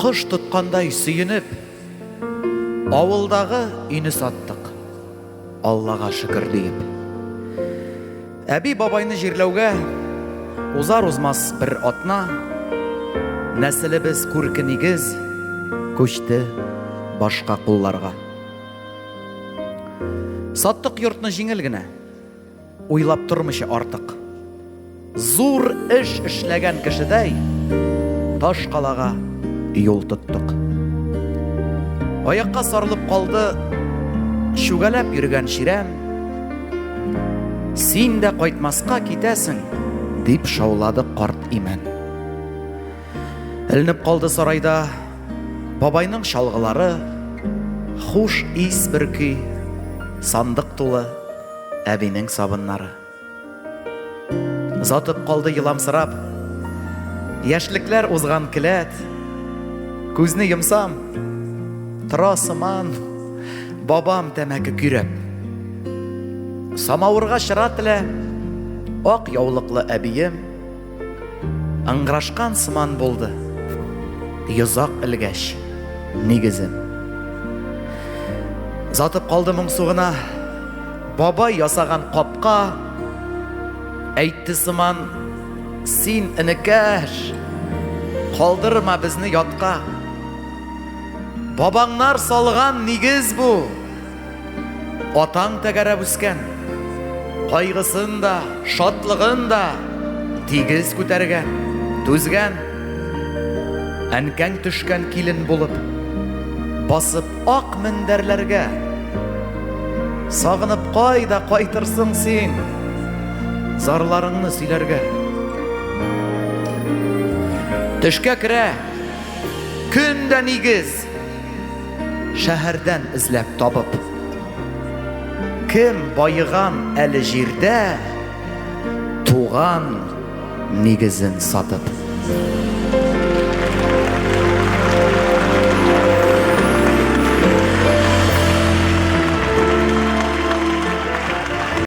Кош тоткандай сөенеп, авылдагы өйне саттык. Аллага шөкер диеп. Әби бабайны җирләүгә узар узмас бер атна нәселебез күрке нигез күчте башка кулларга. Саттык йортны җиңел генә. Уйлап тормыйча артык. Зур эш эшләгән кешедәй таш калага юл тоттык. Аякка сарылып калды чүгәләп йөргән чирәм. Син дә кайтмаска китәсең, дип шаулады карт имән. Элнеп калды сарайда бабайның чалгылары, хуш ис бөрки, сандык тулы Әбинең сабыннары. Затып калды еламсырап. Яшьлекләр узган келәт. Күзне йомсам, тора сыман, бабам тәмәке көйрәп. Самавырга чыра телә, ак яулыклы әбием. Ыңгырашкан сыман булды. Йозак элгәч, нигезем. Затып калды моңсу гына. Бабай ясаган капка әйтте сыман, син энекәш, калдырма безне ятка. Бабаңнар салган нигез бу. Атаң тәгәрәп үскән, кайгысын да, шатлыгын да тигез күтәргән, түзгән. Әнкәң төшкән килен булып, басып ак мендәрләргә. Сагынып кайда кайтырсың син, зарларыңны сөйләргә. Төшкә керә, көн дә нигез, Шәһәрдән эзләп табып. Кем баеган әле җирдә, Туган нигезен сатып.